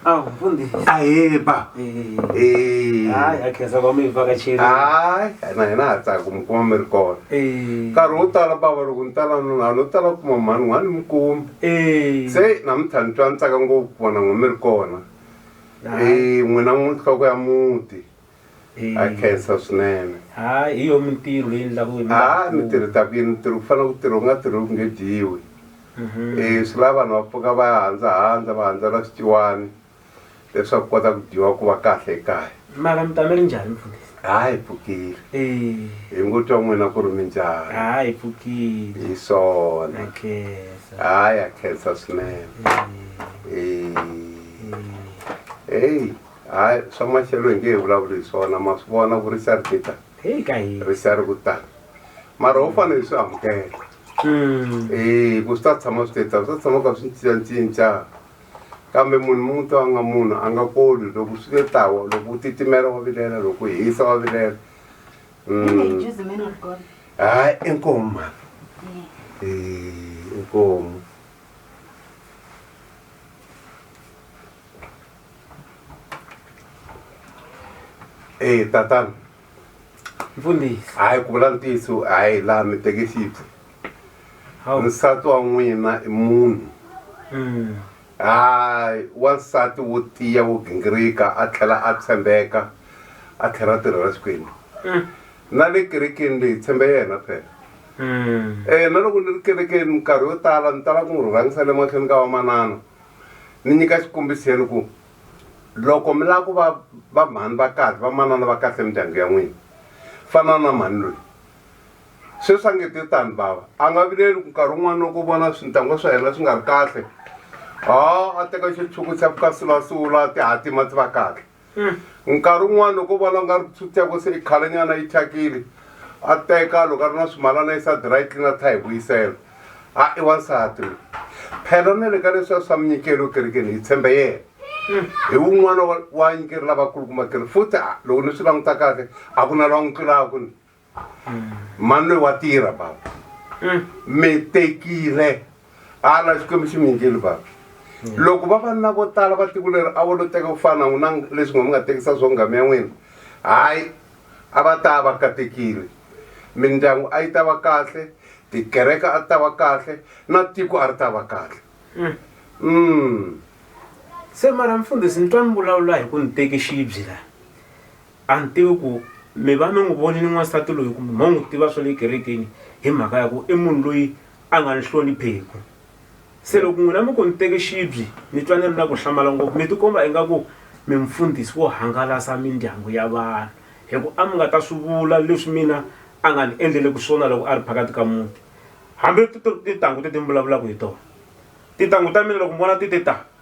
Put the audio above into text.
awu mfundisi ayeba Eh, Eh. hayi akhensa kwami ivakatsheli hayi na hina ha tsaka ku mi kuma mi ri kona Eh, nkarhi wo tala bava loko ni tala nuna a no tala ku kuma mhani n'wana ni mi kumi eh, se namuntlha ni twa ni tsaka ngopfu ku vona n'we mi ri kona hayi. Eh, n'wina n'wi nhloko ya muti Ha khensa swinene. Ha hi yo mintirho leyi endlaku hi nga ha mi tirhi ta ku yini mi tirhi ku fana ku tirhi u nga tirhi ku nge dyiwi e swi lava vanhu va pfuka va ya handzahandza va handzela swiciwani leswaku kota ku dyiwa ku va kahle ekaya mara mi ta mi ri njhani mfundhisi ha hi pfukile hi ngo twa n'wina ku ri mi njhani ha hi pfukile hi swona ha ya khensa swinene eyi hayi swa maxelo hi nge hi vulavuli hi swona ma swi vona ku risa ri tita heyi ka hi risa ri ku tala mara ho fanele hi swi amukela Mm. Eh, ku swi ta tshama swi tetsa swi ta tshama ka swi cincacinca kambe munhu mun'we to a nga munhu a nga koli loko swi te tawa loko u titimela wa vilela loko u hisa wa vilela Mm. Just the man of God. hayi inkomu mhana Eh, inkomu e tatana mfundisi hayi ku vula ntiyiso hayi laha mi teke xipfu nsati wa n'wina i munhu mm. hayi wansati wo tiya wo gingirika a tlhela a tshembeka a tlhela a tirhela xikwembu mm. na le kerekeni leyi tshembe yena phela um na loko ni ri kerekeni minkarhi yo tala ni tala ku n'wi rhurhangisa le mahlweni ka vamanana ni nyika xikombiso ya ni ku loko mi lava ku va va mhani va kahle va manana va kahle mindyangu ya n'wina fana na mhani loyi sweswi a nge te tani bava a nga vileli ku nkarhi wun'wana loko vona swintangwa swa yena swi nga ri kahle a a teka xitshuku xa ku ka sulasula tihatima ti va kahle nkarhi wun'wana loko u vona u nga ri tsuteko se i khalanyana yi thyakile a teka loko a ri na swimalana yi sa dry clean a tlha hi vuyisela a i wansati loyi phela na le ka leswiya swa minyikelo ekerekeni hi tshembe yena hi wun'wana wa nyikeri lavakulukumba keri futhi loko ni swi languta kahle a ku na lwa n'wi tlulaka ni mani loyi wa tirha baba mm. mi tekile ala xikwembu xi mi nyikile baba mm. loko vavanuna vo tala va tiko leri a vo lo teka ku fana n'wina leswi nga mi nga tekisa swo ngami ya n'wina hayi a va ta va katekile mindyangu a yi ta va kahle tikereke a ta va kahle na tiko a ri ta va kahle mm. mm. se mara mfundhisi ni twa ni vulavula hi ku ni teki xibyi laha a ni tivi ku mi va mi n'wi vonile n'wansati loyi kumbe mo n'wi tiva swa le kerekeni hi mhaka ya ku i munhu loyi a nga ni hlonipheku se loko n'wina mi ku ni teke xibyi ni twa ni ri na ku hlamala ngopfu mi tikomba ingaku mi mfundhisi wo hangalasa mindyangu ya vanhu hi ku a mi nga ta swi vula leswi mina a nga ni endleleki swona loko a ri phakati ka muti hambi tintangu ti ti ni vulavulaka hi tona tintangu ta mina loko ni vona ti ti ta